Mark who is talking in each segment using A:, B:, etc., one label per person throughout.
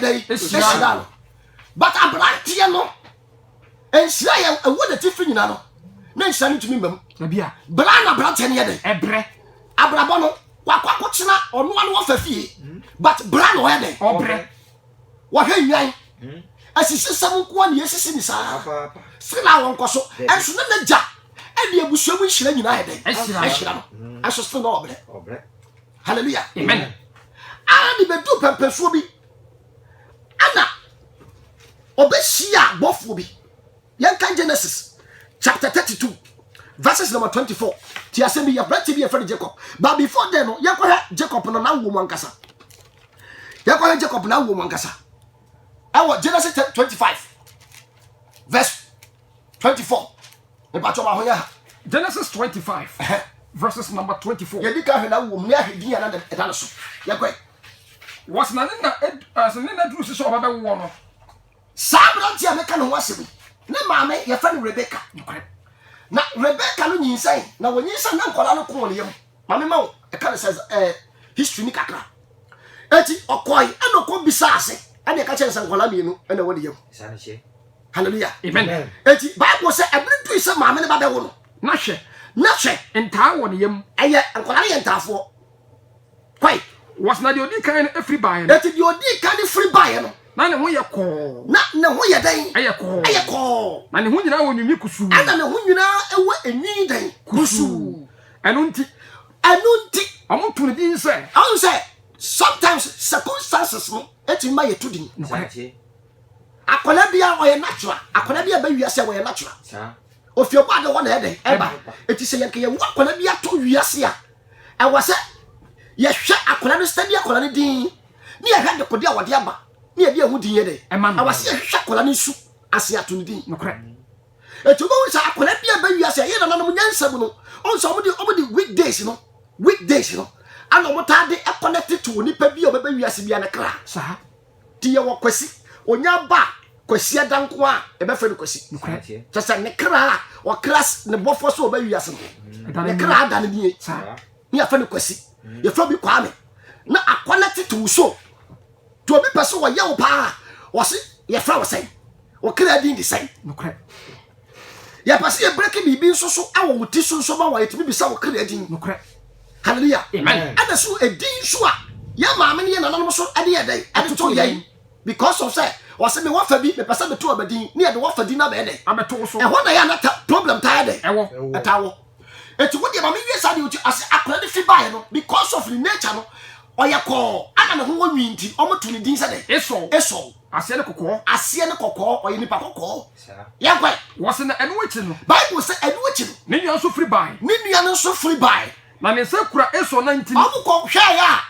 A: dɛ yi ehyira no but aberanteɛ no nhyira yɛ ɛwɔ n'atifi nyina no ne nhyira no ntumi mmam bra na
B: aberanteɛ no yɛ
A: dɛ ɛbrɛ
B: abrabɔ no
A: wakɔ akɔkyena ɔno ano ɔfa fie but bra na ɔyɛ dɛ ɔbrɛ
B: wɔhwɛ
A: nnwan asisi sɛm nkoa ne yɛsisi ne saa sɛ na wɔnkɔ so ɛnso ne n'agya ɛde abusua mu nhyira nyinaa yɛ dɛ ɛhyira no ɛnso sɛ na ɔbrɛ hallelujah amen
B: a ne
A: bɛduu pɛmpɛsoɔ bi ana ɔbɛhyia bɔfoɔ bi yɛnka genesis chapter 32 verses number 24 ti asɛm bi yɛbrante bi yɛfrɛ no jacob but before then no yɛkɔhwɛ jacob no n'awoɔ mu ankasa yɛkɔhwɛ jacob n'awoɔ mu ankasa ɛwɔ genesis 25 verse 24 Ìbàtsɔ wà hɔ yɛ ha. Genesis twenty
B: five verses number twenty four. Yɛdi kan hwɛ n'awoɔ mu ne
A: ahwɛ din a na ɛda ne so. Yɛkɔe. Wɔsi
B: na ne na ɛsi ne na duru si sɛ ɔba bɛ woɔ no. Saa aberanteɛ
A: a meka ne ho asɛm yi, ne maame yɛfrɛ no Rebeka. Nokorɛ. Na Rebeka no nyinsɛn, na wɔnyinsɛn na nkwadaa no kɔɔ ne yam. ma me ma wo ɛka ne sɛ ɛɛ history ni kakra eti ɔkɔe ɛna ɔkɔ bisa ase ɛna ɛka kyɛn sɛ nkɔla mmienu ɛna ɛwɔ ne yam hallelujah amen
B: eti bible sɛ
A: ɛbɛn tu sɛ maame ne ba bɛwo no na hwɛ na
B: hwɛ ntaa wɔ ne yam ɛyɛ nkɔla ne yɛ
A: ntaafoɔ kwae wɔsi na deɛ
B: odi kan no efiri baeɛ no eti deɛ odi kan no
A: efiri baeɛ no na ne ho yɛ kɔɔ
B: na ne ho yɛ dɛn
A: ɛyɛ kɔɔ ɛyɛ kɔɔ
B: na ne ho nyinaa wɔ nwinwi kusuu ɛna ne ho nyinaa
A: ɛwɔ enwi dɛn kusuu. ɛno nti
B: ɛno nti wɔn to ne din sɛ. ɔn sɛ
A: sometimes circumstances no etumi ma yɛ to din. akwadaa bi a ɔyɛ natural akwadaa bi a ɛbɛ wiase a ɔyɛ natural ofi ɔbɔ adi hɔ na ɛdɛ ɛba eti sɛ yɛn kɛyɛ wu akwadaa bi ato wiase a ɛwɔ sɛ yɛhwɛ akwadaa no sɛdeɛ akwadaa no din ne yɛhwɛ dekode a wɔde aba ne yɛde ɛho din yɛ dɛ ɛwɔ sɛ yɛhwehwɛ akwadaa no nsu ase ato ne din.
B: Eti wobɛhu
A: sɛ akwadaa bi a ɛba wiase a ɛyɛ nananom nyansa mu no, ɔhu sɛ wɔde wɔde weekdays no weekdays no ana wɔtaa de connect to onipa bi a ɔbɛba wiase bi a ne kra saa. Ti
B: yɛwɔ
A: Kwasi, onya ba a, Kwasi ada nko a ɛbɛfrɛ no Kwasi. Kyɛ sɛ ne
B: kra a
A: ɔkra ne bɔfoɔ so ɔba wiase no, ne kra ada no nie. Ne yɛfrɛ no
B: Kwasi.
A: Yɛfrɛ bi Kwame. Na akɔnɛte to wo so. To obi pɛ sɛ wɔyɛ wo paa a, wɔse yɛfrɛ wo sɛn? Wo kra din de sɛn? Nokorɛ. Yɛpɛ sɛ yɛbreki biribi nso so wɔ wo ti so nso ma wɔ yɛtumi bisa wo kra din. Nokorɛ.
B: Hallelujah.
A: Amen. Ɛna so
B: ɛdin nso
A: a yɛ maame ne yɛ nananom so ɛde yɛ dɛn? Ɛde to yɛn. Because of sɛ wɔse me wɔfa bi mepɛ sɛ meto ɔba din ne yɛde wɔfa din no abɛyɛ dɛn? Abɛto wo so. Ɛhɔ na yɛ a na
B: ta problem
A: taa yɛ dɛn? Ɛwɔ. Ɛtaa wɔ. Eti wo deɛ ma me wie saa deɛ ɔti ase akora de fi baeɛ no because of ne nature no ɔyɛ kɔɔ ana ne ho wɔ nwi nti ɔmo to ne din sɛ dɛ? Esɔw. Esɔw. Aseɛ ne kɔkɔɔ. Aseɛ ne kɔkɔɔ ɔyɛ nipa kɔkɔɔ. Saa. Yɛn kɔ ɛ. Wɔsi na ɛno akyi
B: no. Bible sɛ ɛno akyi
A: no. Ne nua nso firi bae. Ne
B: nua no nso firi bae.
A: Na ne nsa kura
B: Esɔw nan ntini. Ɔmo kɔ hwɛɛ a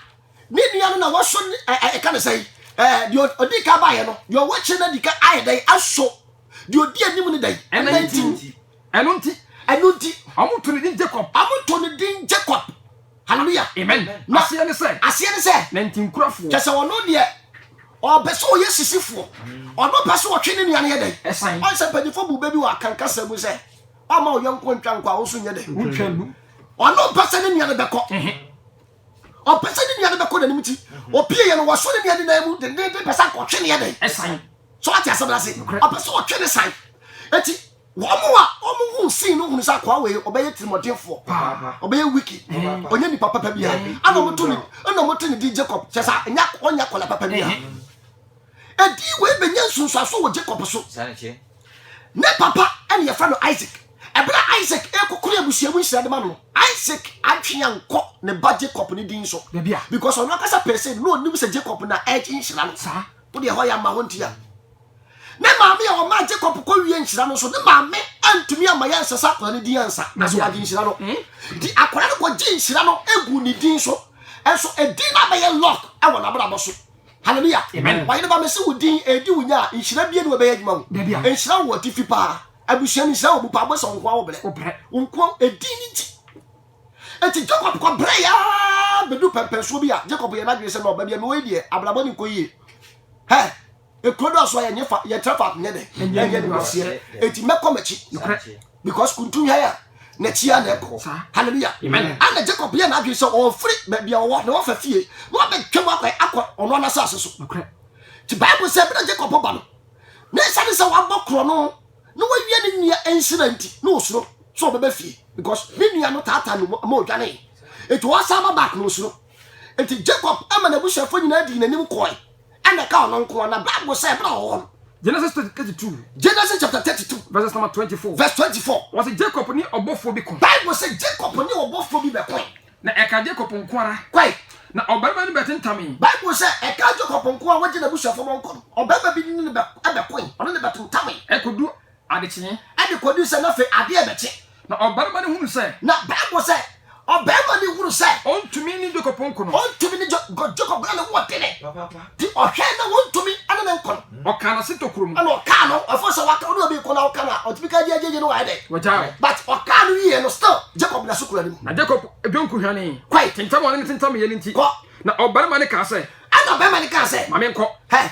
A: ne nua no na wɔso ne ɛ ɛ yɛka ne sɛn ɛɛ deɛ ɔdi kan baeɛ no deɛ ɔwɔ akyire no adi kan ayɛ dɛn aso deɛ ɔdi anim no dɛn? Nan ntini.
B: Ɛno nti, ɛno nti, wɔto ne din Jacob. Wɔto ne din Jacob. Hallelujah. Amen. Na aseɛ
A: ne sɛ. Aseɛ
B: ne sɛ. Nantinkurafoɔ. Kyɛ sɛ ɔno deɛ
A: ɔpɛ sɛ ɔyɛ sisifoɔ. Ɔno pɛ sɛ ɔtwe ne nua no yɛ dɛn. Ɛsan. Ɔn sɛ mpanyinfoɔ bu bɛ bi wɔ akankasa mu sɛ ɔma ɔyɔnko ntwa nkɔ a ɔnso nyɛ dɛn. Wontwa nnu.
B: Ɔno mpɛ sɛ ne
A: nua no bɛkɔ. Ɔpɛ sɛ ne nua no bɛkɔ n'anim ti. Opie yɛ no wɔso ne nua no nan mu dendeenden pɛ sɛ ankɔtwe ne yɛ dɛn. Ɛsan. So ate asɛm no ase. Ɔpɛ sɛ ɔtwe ne san. Eti Wɔn a wɔhuu scene no hunu sɛ akoa wei ɔbɛyɛ tirimɔdenfoɔ paa, ɔbɛyɛ wicked, ɔnyɛ nipa papa biara. Ɛna wɔto ne ɛna wɔto ne din Jacob, kyerɛ sɛ ɛnyɛ ɔnyɛ akwadaa papa biara. Edin wei bɛnya nsunsuanso wɔ Jacob so. Ne papa ɛna yɛfrɛ no Isaac. Ɛberɛ a Isaac ɛrekɔkoro abusua mu nhyira de ma no no, Isaac adwene ankɔ ne ba Jacob ne din so, because ɔno ankasa pɛɛ sɛ na ɔnim sɛ Jacob na ɛregye nhyira no. Wodeɛ ɛhɔ yɛ ama hɔ nti a. Ne maame a ɔmaa Jacob kɔwiee nhyira no nso, ne maame antumi amma yɛansesa akwadaa no din ansa, na so wagye nhyira no. Enti hmm. akwadaa no kɔgye nhyira no gu ne din so. Nso edin no abɛyɛ lock wɔ n'abrabɔ so. Hallelujah. Amen. Why no ba me se wo din edi wo nya nhyira bie ne wobɛyɛ adwuma wo. Nhyira wo atifi paa. Abusua no nhyira wo mu paa bɔ sɛ nkoa wo brɛ. Wo nkoa edin ne ti. Eti Jacob kɔ brɛ ya bedu pɛmpɛnsoɔ bi a Jacob yɛ n'adwene sɛ na ɔba bi a mewɔ yi deɛ abrabɔ ne nkɔ yie. Hɛ Ekuro do aso a yɛnyɛ fa yɛntra faako nyɛ dɛ ɛnyɛ ne waseɛ eti mɛkɔ m'akyi nokorɛ because kuntu hwan a n'akyi a na ɛkɔ hallelujah ɛna Jacob yɛ n'adwene sɛ ɔfiri baabi a ɔwɔ na wafa fie na wabɛtwam akɔ akɔ ɔno anasase so nokorɛ ti Bible sɛ ɛbɛrɛ Jacob ba no na ɛsane sɛ wabɔ korɔ no na wawia ne nua nsira nti na osuro sɛ ɔbɛbɛ fie because ne nua no taataa no ma odwane eti ɔsan ba back na osuro eti Jacob ɛma n'abusuafoɔ nyinaa dii n'anim kɔɛ ɛna ɛka ɔno nko ara na bible sɛ ɛbra wɔ hɔ no. genesis chapter thirty
B: two. genesis chapter thirty
A: two. verses number twenty four.
B: verse twenty four. wɔsi
A: jacob ni
B: ɔbɔfoɔ bi ko. bible sɛ jacob
A: ni ɔbɔfoɔ bi bɛ ko. na ɛka jacob
B: nko ara. kwae. na
A: ɔbarima ni bɛ
B: tentame. bible sɛ ɛka
A: jacob nko ara wɔgye n'abusuafo bɔ nkɔ no ɔbarima bi ni ne bɛ ɛbɛ ko ɔne ne bɛ tentame. ɛkodu Ade
B: kyee. Ɛde kɔduu sɛ na
A: afei adeɛ rebɛkye. Na ɔbarima no
B: hunu sɛ. Na Bible sɛ,
A: Ɔbarima no hunu sɛ. Ɔntumi ne Jacob
B: nko no. Ɔntumi ne Ja, because
A: Jacob na ne ho ɔdene. Papaapa. Nti ɔhwɛɛ na ɔntumi ne no nko no. Ɔkaa n'ase tokuro mu.
B: Ɛna ɔkaa no, ɛfo
A: sɛ waka, wone obi nko na woka no a, ɔtumi ka gyegye no wayɛ dɛn? Wagyaa wo. But ɔkaa
B: no wieɛ
A: no, still Jacob da so kura ne mu. Na Jacob dwonku
B: hwanee. Kɔe. Tentam a ɔne no
A: tentammeeɛ no
B: nti. Kɔ. Na ɔbarima
A: no kaa
B: sɛ. Ɛna ɔbarima no kaa sɛ.
A: Ma menkɔ. Hɛ!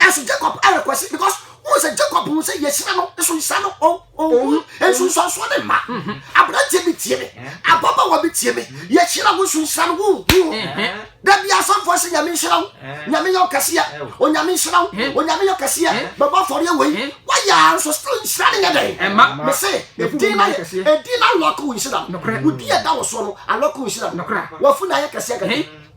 A: Ɛso Jacob ɛrekwɛse because wọn sɛ Jacob hu sɛ yɛhyira no nso nhyira no ɔhu nsunsuansoɔ ne mma aberanteɛ bi tie me ababaawa bi tie me yɛhyira wo nso nhyira no wohu da bi asɔfoɔ sɛ nyame nhyira wo nyame yɛ ɔkɛseɛ onyame nhyira wo onyame yɛ ɔkɛseɛ bɛbɔ afɔreɛ wei woayɛ a nso still nhyira no nyɛ dɛn me se ɛdin no ɛdin no alɔke wo nhyira no wodi ɛda wo soɔ no alɔke wo nhyira no wafu na ayɛ kɛseɛ kɛkɛ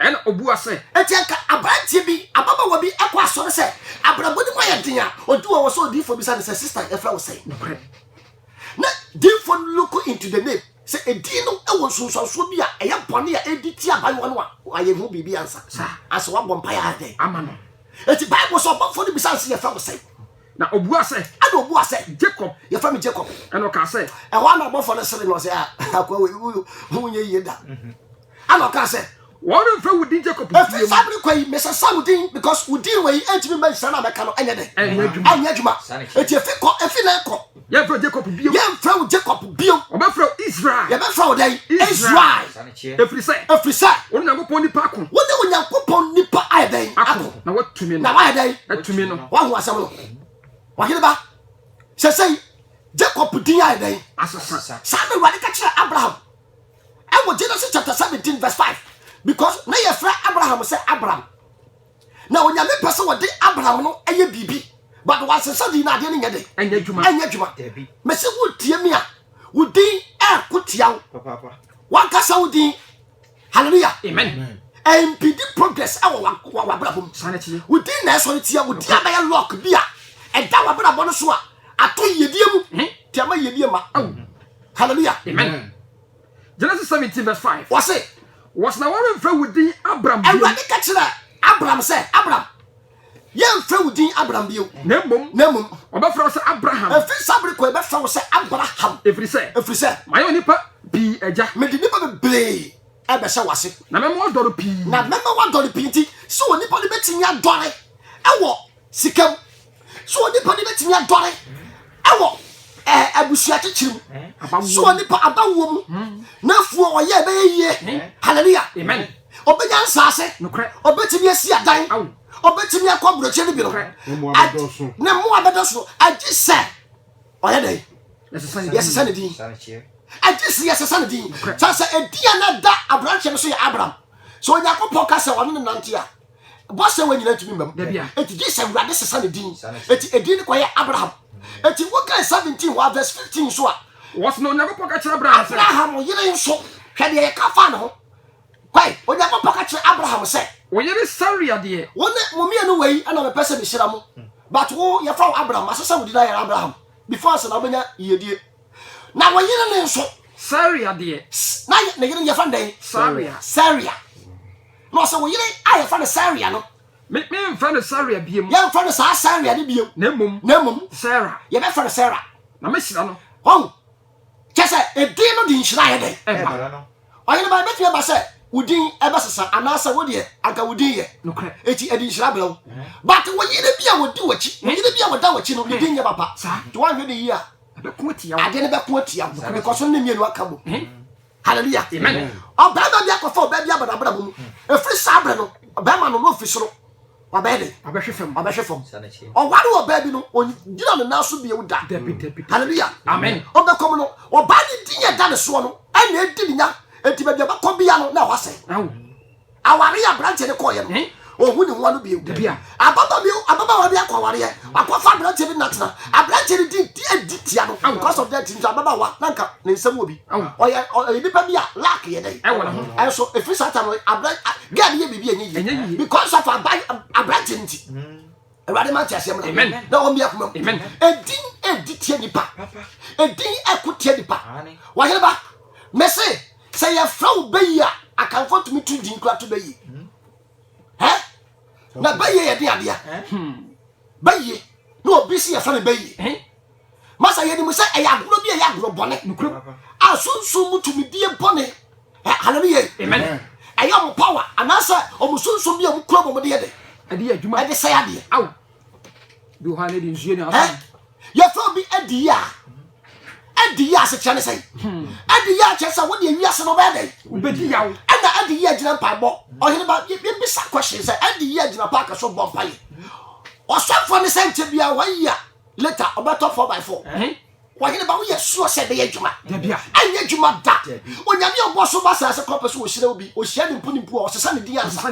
B: Ɛnna
A: ɔbua sɛ.
B: Enti anka aberanteɛ
A: bi, ababaawa bi, kɔ asɔre sɛ abrabɔ no mu ayɛ den a, ɔdu hɔ wɔ sɛ odiyifoɔ bisa no sɛ, Sista, yɛfrɛ wo sɛn? Nokorɛ. Na diyifoɔ no look into the name, sɛ edin no wɔ nsunsuansoɔ bi a ɛyɛ bɔne a ɛredi tia abaayewa no a, wayɛ ho biribi ansa. Saa. Ansa wabɔ mpaeɛ ayɛ dɛn? Ama no. Enti
B: Bible sɛ
A: ɔbɔfoɔ no bisaa no sɛ, Yɛfrɛ wo sɛn? Na ɔbuaa sɛ.
B: Ɛnna ɔbuaa sɛ.
A: Jacob. Yɛfrɛ me
B: Jacob.
A: Ɛnna ɔkaa sɛ.
B: Ɛhɔ ara na ɔbɔfoɔ no
A: seree no, ɔsɛ, Ah, akoa wei, wo ho nyɛ yie da. Ɛna ɔkaa sɛ, Wɔremfrɛ wo din
B: Jacob bio. Ɛfiri saa bere kɔ yi,
A: mesesa wo din because wo din wei rentumi mma nhyira no a mɛka no nyɛ dɛn? Ɛnyɛ adwuma. Ɛnyɛ adwuma. Enti efi kɔ, efi nnɛ kɔ. Yɛremfrɛ wo Jacob bio.
B: Yɛremfrɛ wo Jacob
A: bio. Wɔbɛfrɛ wo Israel.
B: Yɛbɛfrɛ wo dɛn?
A: Israel. Ɛfiri sɛ.
B: Ɛfiri sɛ. Wo ne Onyankopɔn nipa ako. Wo ne Onyankopɔn
A: nipa ayɛ dɛn? Ako. Na woatumi no. Na woayɛ
B: dɛn? Atumi
A: no. Woahu asɛm
B: no?
A: Ɔhene ba, sɛsɛi Jacob din ayɛ dɛn? Asesa. Saa na
B: Awurade ka kyerɛɛ
A: Abraham. Ɛwɔ Genesis chapter seventeen verse five because na yɛfrɛ Abraham sɛ Abram na onyame pɛ sɛ wɔde Abram no ɛyɛ biribi but wansesa din no adeɛ no nyɛ dɛ ɛnyɛ adwuma ɛnyɛ adwuma mɛsi wo tie mi a wo din ɛɛko tia wo wankasa wo din hallelujah amen
B: ɛmpidi
A: progress ɛwɔ wabrabɔ mu wo din na
B: ɛsɔre tia
A: wo din abɛyɛ lock bi a ɛda wabrabɔ no so a ato yɛdie mu tiama yɛdie ma Hallelujah. Amen.
B: Genesis 17 verse 5. Wɔse. Wɔse
A: na wɔremfrɛ
B: wo din Abram bio. Awurade ka kyerɛ
A: Abram sɛ, Abram, yɛmfrɛ wo din Abram bio. Na mmom. Na mmom. Wɔbɛfrɛ wo sɛ
B: Abraham. Ɛfiri saa bere kɔ yɛbɛfrɛ
A: wo sɛ Abraham. Ɛfiri sɛ. Ɛfiri sɛ.
B: Mayɛ onipa
A: pii
B: agya. Mede nnipa bebree
A: ɛbɛhyɛ w'ase. Na mɛma wadɔre pii.
B: Na mɛma wadɔre
A: pii nti, sɛ onipa no bɛtumi adɔre ɛwɔ sika mu. So onipa no betumi adɔre wɔ eh, abusua kyekyere mu? So onipa aba wuo mu n'afuo ɔyɛ ɛbɛyɛ yie? Hallelujah. Amen. Ɔbɛnya
B: nsaase.
A: Ɔbɛtumi asi adan. Ɔbɛtumi akɔ aburokyire no bi no. Ne mmoa bɛdɔ so. Agye sɛ ɔyɛ dɛ. Yɛsesa ne din. Agye sɛ yɛsesa ne din. Sɛ sɛ edin a na da aberanteɛ no so yɛ Abraham. So Onyankopɔn ka sɛ ɔne ne nante a. Bɔsɛ wɔ nyina ntumi mmam. Eti gye sɛ Awurade sesa ne din. Eti edin no kɔyɛ Abraham. Eti wokan 17 wɔ verse 15 nso a. Wɔsi na Onyankopɔn
B: ka kyerɛ Abraham sɛ. Abraham yere nso,
A: hwɛ deɛ yɛka faa ne ho. Kwae, Onyankopɔn ka kyerɛ Abraham sɛ. Wo yere Saria
B: deɛ. Wo ne mo mmienu wei
A: na mepɛ sɛ mehyira mo. But wo, yɛfa wo Abraham, masesa wo din ayɛ no Abraham. Before ansa na wobɛnya yiedie. Na wo yere no nso.
B: Saria deɛ. Na ne yere no
A: yɛfrɛ no dɛn? Saria. Saria. Na ɔse, Wo yere a yɛfrɛ no Saria no. Me, menfrɛ no
B: Saria biom. Yɛnfrɛ no saa Saria
A: no biom. Na mmom. Na mmom.
B: Sarah. Yɛbɛfrɛ no Sarah.
A: Na mehyira no.
B: Wahu?
A: Kyerɛ sɛ, edin no de nhyira yɛ dɛn? Ɛba. Ɔyere ba, ɛbɛtumi aba sɛ wo din ɛbɛsesa, anaasɛ wo deɛ, anka wo din yɛ. Nokorɛ. Enti ɛde nhyira
B: brɛ wo.
A: But wo yere bi a ɔdi w'akyi, wo yere bi a ɔda w'akyi no, ne din nyɛ papa. Saa. Nti woanhwɛ no yie a. Ɛbɛko atia wo. Adeɛ
B: no bɛko atia wo.
A: Nokorɛ. Because no ne mmienu aka bom. Hallelujah.
B: Ɔbarima bi akɔfa
A: ɔbaa bi abadabraba mu. Ɛfiri saa berɛ no, ɔbarima no na ɔfi soro wabɛyɛ de ɔbɛhwe fam ɔbɛhwe
B: fam ɔware
A: wɔ baabi no ɔgyina ne nan so bio da hallelujah amen ɔbɛkɔm
B: no
A: ɔbaa ne din a ɛda ne soɔ no ɛna ɛdi ne nya ɛti baabi a ɔbɛkɔ bia no na ɛhɔ asɛe
B: Aware yɛ
A: aberanteɛ no kɔɔyɛ no ɔhu ne ho ano bio ababa bi
B: ababaawa
A: bi akɔ awareɛ wakɔfa aberanteɛ bi natena aberanteɛ no di di tia no because of that nso ababaawa na nka ne nsɛm wɔ bi ɔyɛ ɔyɛ nipa bi a lack yɛ dɛ ɛnso efiri saa tam aberɛ gɛɛ no yɛ biribi ɛnyɛ yie because of aberanteɛ no ti awurade ma nti aseɛ mena na wɔn biako mam ɛdin
B: ɛdi
A: tia nipa ɛdin ɛko tia nipa wɔyere ba mese Sɛ yɛfrɛ wo Bayi a, Akanfoɔ tumi to din kora to Bayi. Hɛ? Na Bayi yɛ den adea. Bayi, na obi si yɛfrɛ no Bayi. Masa yɛnim sɛ ɛyɛ agorɔ bi a ɛyɛ agorɔ bɔne. A sunsum mu tumidie bɔne. Hallelujah. Amen.
B: Ɛyɛ ɔmo power
A: anaasɛ ɔmo sunsum bi a ɔmo kura ɔmo de yɛ dɛ. Ɛde yɛ adwuma. Ɛde sɛ
B: adeɛ. Aw. yɛfrɛ obi adi yie a
A: adi yie asekyerɛ ne sɛ hmm. adi yie akyerɛ sɛ wode awiase no bɛyɛ dɛn ɛna
B: adi yie agyina
A: mpaebɔ ɔhene ba yɛbisa question sɛ adi yie agyina paaka so bɔ mpaeɛ ɔsɔfoɔ ne sɛ nkyɛ bia wɔyi a later ɔbɛtɔ 4 by 4 wɔhene ba woyɛ suɔ sɛ ɛbɛyɛ adwuma ɛnyɛ adwuma
B: da
A: onyame ɔbɔ so ba saase kɔpɛ so wɔhyira wo bi ɔhyia ne mpo ne mpo a ɔsesa ne din ansa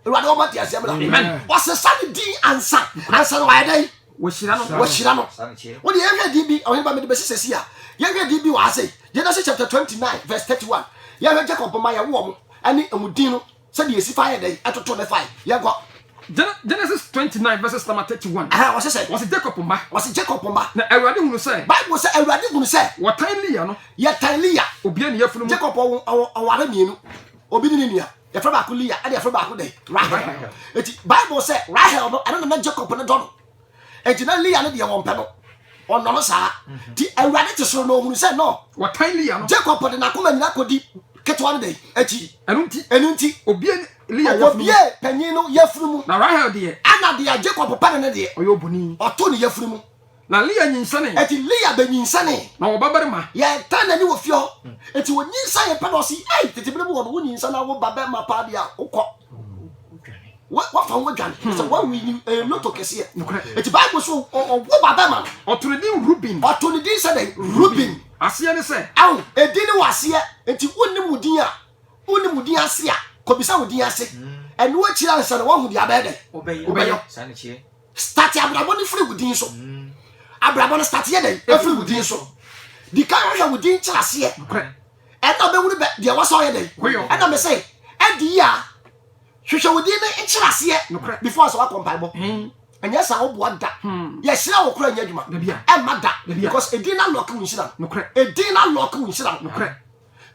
B: awurade
A: wɔma te aseɛ mmra wɔsesa ne
B: din
A: ansa ansa no wayɛ dɛn wɔhyira no wɔhyira
B: no
A: wode yɛhwɛ din bi ɔhene ba mede bɛsi sɛsi a yɛhwɛ din bi wɔ ase genesis chapter 29 verse 31 yɛhwɛ jacob ma yɛwoɔ mo ɛne ɛmu din no sɛdeɛ ɛsi fa yɛ dɛn ɛtoto ne fae yɛnkɔ Genesis 29
B: verses number 31. Aha, wɔsi sɛ. Wɔsi Jacob
A: mma. Wɔsi
B: Jacob mma. Na
A: Awurade hunu sɛ.
B: Bible sɛ Awurade hunu
A: sɛ. Wɔtan Leah no.
B: Yɛtan Leah.
A: Obia ne yafunu mu. Jacob
B: ɔware
A: mmienu. Obi ne ne nua. yɛfrɛ baako lia ɛna yɛfrɛ baako dɛ rahel eti bible sɛ rahel no ɛno nana jacob no dɔ no eti na lia no deɛ wɔn pɛ no ɔnɔ no saa mhm. ti awurade te soro na ohun sɛ no wɔtan lia no jacob
B: de n'akoma nyina
A: kɔdi ketewa no dɛ akyi ɛnu nti ɛnu nti obie lia yɛfunu mu
B: obie panyin
A: no yɛfunu mu na rahel deɛ ɛna
B: deɛ jacob pɛ
A: no ne deɛ ɔyɛ oboni ɔto ne
B: yɛfunu mu.
A: Na Lea nyinsɛnee.
B: Enti Lea benyinsɛnee.
A: Na ɔwɔ babarima.
B: Yɛtaa n'ani wɔ
A: fie hɔ. Enti onyinsɛnee pɛ na ɔse, Ei, tete bere mu hɔ no, wunyinsɛn na wo babarima paa deɛ a, wokɔ. Woafa ho adwane. Kyerɛ sɛ, woawini ɛyɛ loto kɛseɛ. Nokorɛ. Enti Bible se ɔwo babarima no. Ɔto no din Ruben.
B: Ɔto no din sɛ dɛn?
A: Ruben. Aseɛ ne sɛ.
B: Ao, edin ne wɔ
A: aseɛ. Enti wonnim wo din a, wonnim wo din ase a, kɔbisa wo din ase. Ɛno akyiri ansa no, woahu deɛ abɛyɛ dɛn? Wobɛyɛ. Saa na ɛkyerɛ.
C: Start abrabɔ no
A: firi wo din so. Abrabɔ no start yɛ dɛn? Ɛfiri wo din so. Di kan hwɛ wo din kyerɛ aseɛ. Ɛna bɛhunu bɛ deɛ wɔsɛ ɔyɛ dɛn. Ɛna me sɛ ɛdi yi a hwehwɛ wo din no nkyerɛ aseɛ before sɛ wakɔ mpaebɔ. Ɛnyɛ saa ɔboa da. Yɛhyira wo kora nyɛ adwuma. Ɛmma da because edin na lock wo nhyira no. Edin na lock wo nhyira no.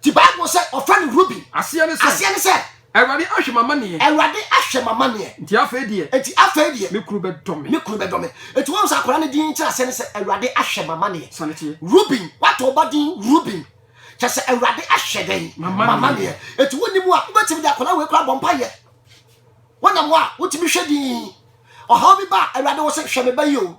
A: Ti Bible sɛ ɔfrɛ no Ruben. Aseɛ ne sɛ. Aseɛ ne sɛ.
B: Awurade
A: ahwɛ
B: m'amaneɛ. Awurade ahwɛ m'amaneɛ.
A: Nti afei deɛ. Nti
B: afei deɛ. Me kunu
A: bɛdɔ me. Me kunu
B: bɛdɔ me. Nti wɔn
A: sɛ akwadaa no din nkyerɛaseɛ ne sɛ Awurade ahwɛ m'amaneɛ. Sane teɛ. Ruben,
B: wɔato wo ba
A: din Ruben. Kyɛ sɛ Awurade ahwɛ dɛn? M'amaneɛ. Nti wonni mu a, wobɛtumi de akwadaa wei koraa bɔ mpaeɛ. Wonam hɔ a, wotumi hwɛ dinn. Ɔhaw bi ba a, Awurade wo se hwɛ me ba yi o.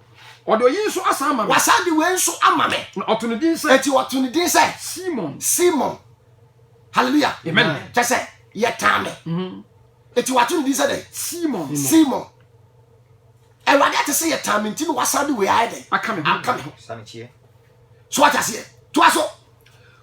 A: Ɔde ɔyi nso
B: asan ama me. Wasan de wei nso
A: ama me. Na ɔto ne din sɛ. Eti
B: ɔto ne din sɛ.
A: Simon. Simon. Hallelujah. Amen. Kyɛ sɛ
B: yɛtaa
A: me. Mhm. Eti wato ne din sɛ dɛ. Simon. Simon. Awurade ate sɛ yɛtaa me nti na wasan de wei ayɛ dɛ. Aka me ho. Aka me ho.
B: So
A: ate aseɛ. To aso.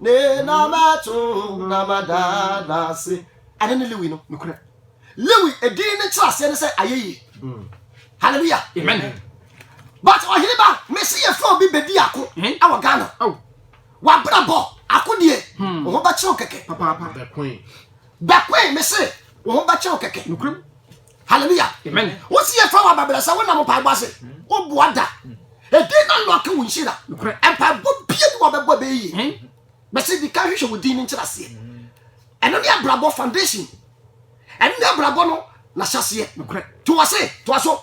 A: Ne na mɛto na mada no ase. Ɛno ne Lewi no, nokorɛ.
B: Lewi
A: edin no nkyerɛaseɛ ne sɛ ayɛyie. Mm. Hallelujah. Amen.
B: But
A: ɔhene ba, mese yɛfrɛ obi bɛdi ako wɔ Ghana. Oh. Wabrabɔ akodie, hmm. wo ho bɛkyerɛw kɛkɛ. Papaapa. Bɛkoe. Bɛkoe, mese wo ho bɛkyerɛw kɛkɛ. Nokorɛm.
B: hallelujah
A: wosi
B: yɛ fa wa bɛbrɛ
A: sɛ wonam mpaebɔ ase woboa da ɛdi na lɔke wo nhyira mpaebɔ
B: bie bi
A: wɔbɛbɔ bɛyɛ yie hmm. bɛsɛ di ka hwehwɛ wo din no nkyerɛ aseɛ hmm. ɛno ne abrabɔ foundation ɛno ne abrabɔ no nahyɛseɛ toa se
B: toa
A: so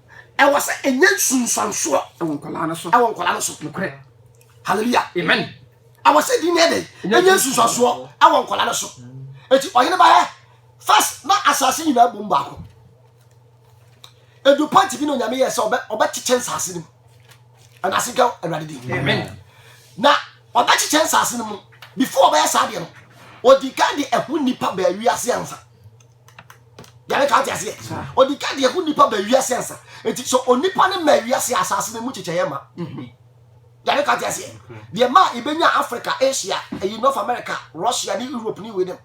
A: Ɛwɔ sɛ ɛnya nsunsuansoɔ. Ɛwɔ nkwadaa no so.
B: Ɛwɔ nkwadaa no so. Nokorɛ.
A: Hallelujah. Amen.
B: Ɛwɔ sɛ din
A: no yɛ dɛ. Ɛnya nsunsuansoɔ. Ɛwɔ nkwadaa no so. Eti ɔhene ba yɛ. First na asase nyinaa bom baako. Edu pɔnti bi na onyame yɛ sɛ ɔbɛ ɔbɛkyekyɛ nsaase no mu. Ɛna ase nka awurade din. Amen.
B: Na
A: ɔbɛkyekyɛ nsaase no mu. Before ɔbɛyɛ saa deɛ no, odi kan de ɛho nipa baa wiase ansa. yɛne ka te aseɛ ɔdi ka deɛ ho nipa ba wiase ansa nti sɛ onipa ne ma wiase asase no mu kyekyɛeɛ ma yɛne ka te aseɛ deɛ ma ibɛnya africa asia ɛyi north america russia ne europe ne wei dem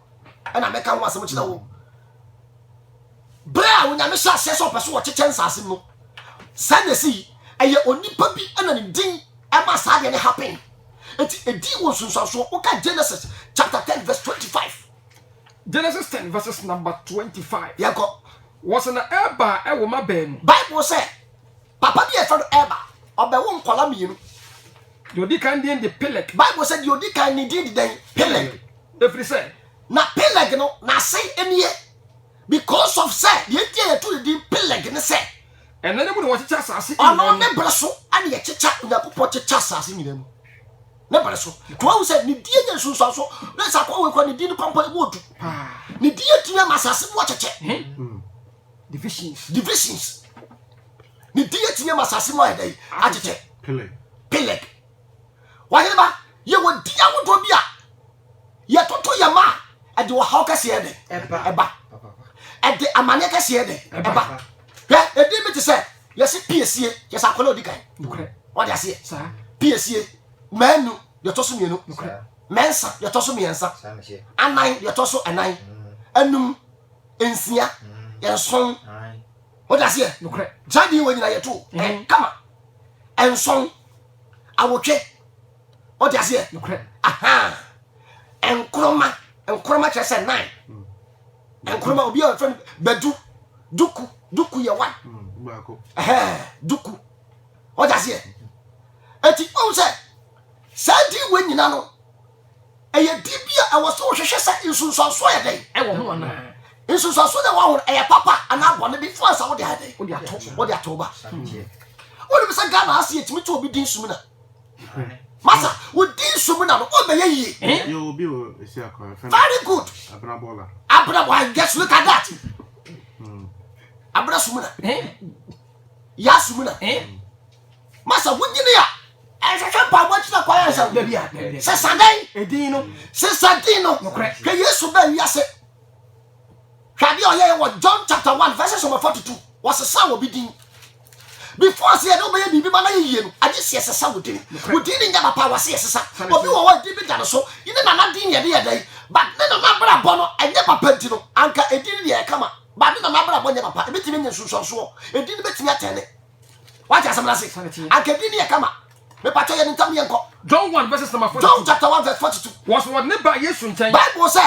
A: ɛna mɛka ho asɛm kyerɛ wo berɛ a onyame hyɛ aseɛ sɛ ɔpɛ so wɔkyekyɛ nsase no saa na ɛsi ɛyɛ onipa bi ɛna ne din ɛma saa deɛ ne happen nti ɛdi wɔ nsunsuansoɔ woka genesis chapter 10 verse 25 Genesis
B: ten verses number twenty five. Yɛn kɔ.
A: Wɔsi na
B: Eber ɛwɔ ma bɛɛnu. Bible sɛ,
A: papa bi a yɛfrɛ no Eber, ɔbɛwo nkɔla mmienu. Deɛ odi
B: kan din de Peleg. Bible sɛ deɛ odi kan
A: ne din de dɛn? Peleg. Efiri sɛ.
B: Na Peleg no,
A: n'ase nie. Because of sɛ, deɛ nti a yɛto ne din Peleg ne sɛ. Ɛna ne mu na wɔkyekyɛ
B: asase nyinaa mu. Ɔno ne bere so
A: ɛna yɛkyekyɛ, Onyankopɔn kyekyɛ asase nyinaa mu. Ne bere so. To ahu sɛ ne die nyɛ nsunsuanso. Na sɛ akɔa wei kɔ ne die no kwampɔ emu odu. Ne die atumi ama asase mu akyekyɛ. Hmm. Divisions. Divisions. Ne die atumi ama asase mu ayɛ dɛ akyekyɛ. Peleg. Peleg. Wɔyere ba yɛ wɔ di ahodoɔ bi a yɛtoto yɛn ma ɛde ɔhaw kɛseɛ dɛ ɛba ɛde amaneɛ kɛseɛ dɛ ɛba hwɛ ɛdi bi te sɛ yɛse piesie yɛ sɛ akɔla ɔdi kan ɔde aseɛ piesie mɛnu yɛtɔ so mmienu mɛnsa yɛtɔ so mmiɛnsa anan yɛtɔ so ɛnan ɛnum mm. nsia mm. ɛnson ɔde aseɛ saa deɛ wɔ
B: nyina yɛto
A: kama ɛnson awotwe ɔde aseɛ nkoroma nkoroma kyerɛ sɛ nan hmm. nkoroma obi a ɔfrɛ no badu duku duku yɛ wan hmm, duku ɔde aseɛ eti ɔn sɛ saa di wɔ nyina no ɛyɛ di bi a ɛwɔ so wɔhwehwɛ sɛ nsunsuanso yɛ dɛ ɛwɔ ho anaa
B: hmm. nsunsuanso na ɛwɔ
A: ho ɛyɛ papa anaa bɔne bi fo ansa wɔde ayɛ dɛ wɔde ato ba wɔde bi sɛ ghana ase yɛ tumi to obi din sumina. Masa, wo di nsu mu na no, o bɛyɛ yie.
C: Very good.
A: Abenabola. Abenabola, yes, look at that. Hmm. Abena sumuna. Ya sumuna. Masa, wo nyini ya. ɛhwehwɛ mpaebɔ akyina kwan ansa dabi a sɛ sa
B: dɛn
A: ɛdin no sɛ
B: sa din no
A: nokorɛ hwɛ yesu bɛ wiase hwɛ adeɛ ɔyɛyɛ wɔ john chapter 1 verses number 42 wɔsesa wɔ bi din before sɛ yɛde wobɛyɛ biribi ma na yɛ yie no agye sɛ yɛsesa wo din wo din ne nyɛ papa wase yɛsesa obi wɔ hɔ din bi da no so ne nana din ne yɛde yɛ dɛn but ne nana abrabɔ no ɛnyɛ papa nti no anka ɛdin no deɛ ɛkama but ne nana abrabɔ nyɛ papa ɛbɛtumi nyɛ nsunsuansoɔ ɛdin no bɛtumi atɛne wate asɛm no ase anka ɛdin no yɛ kama mepatwɛ yɛ ne ntam yɛnkɔ John 1 verses number 42
B: John chapter
A: 1 verse
B: 42 was wɔde ne
A: ba
B: Yesu nkyɛn
A: Bible sɛ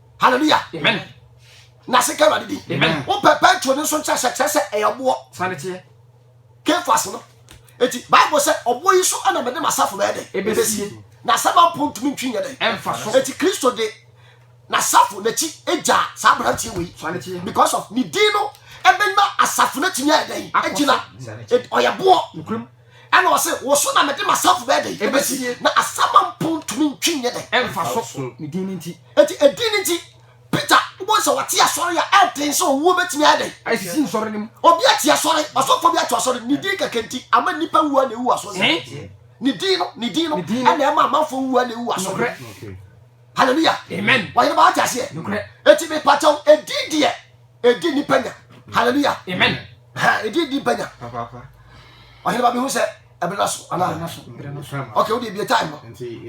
A: hallelujah amen
B: na se ka
A: awurade din amen wo pɛ petro ne nso nkyerɛ sɛ kyerɛ sɛ ɛyɛ ɔboɔ sane teɛ
B: kefas
A: no eti bible sɛ ɔboɔ yi so ɛna mede m'asafo bɛyɛ dɛ ebesie na asɛm ampo ntumi ntwi nyɛ dɛ ɛmfa so eti kristo
B: de
A: n'asafo n'akyi egya saa aberanteɛ wei sane teɛ because of ne din no ɛbɛnya asafo n'atumi ayɛ dɛ egyina ɔyɛ boɔ
B: Ɛna ɔse, Wo
A: so na mede m'asafo bɛyɛ dɛn? Ɛbɛsi, na asaman mpo ntumi ntwe nyɛ dɛn? Ɛmfa so. Ne
B: din no nti. Enti edin no nti,
A: Peter, wobɛhu sɛ wate asɔre a ɛden sɛ owuo bɛtumi ayɛ dɛn? Asisi nsɔre no mu.
B: Obi ate asɔre,
A: ɔsɔfoɔ bi ato asɔre, ne din kɛkɛ nti, ama nnipa wu ara na ɛwu asɔre no mu. Ne din no, ne din no, ɛna ɛma amanfoɔ wu ara na ɛwu asɔre no mu. Hallelujah. Amen. Wɔyere
B: ba wate aseɛ? Nokorɛ.
A: Enti mepakyɛw, edin deɛ, ɛdi nnipa nya. Hallelujah. Amen.
B: ɛdi ɛdi
A: banya
C: ɔhene ba
A: bɛhu sɛ ɛbere no so anaa ok wode bie time no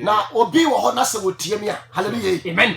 A: na obi wɔ
B: hɔ
A: na sɛ wɔtie me a halleluya amen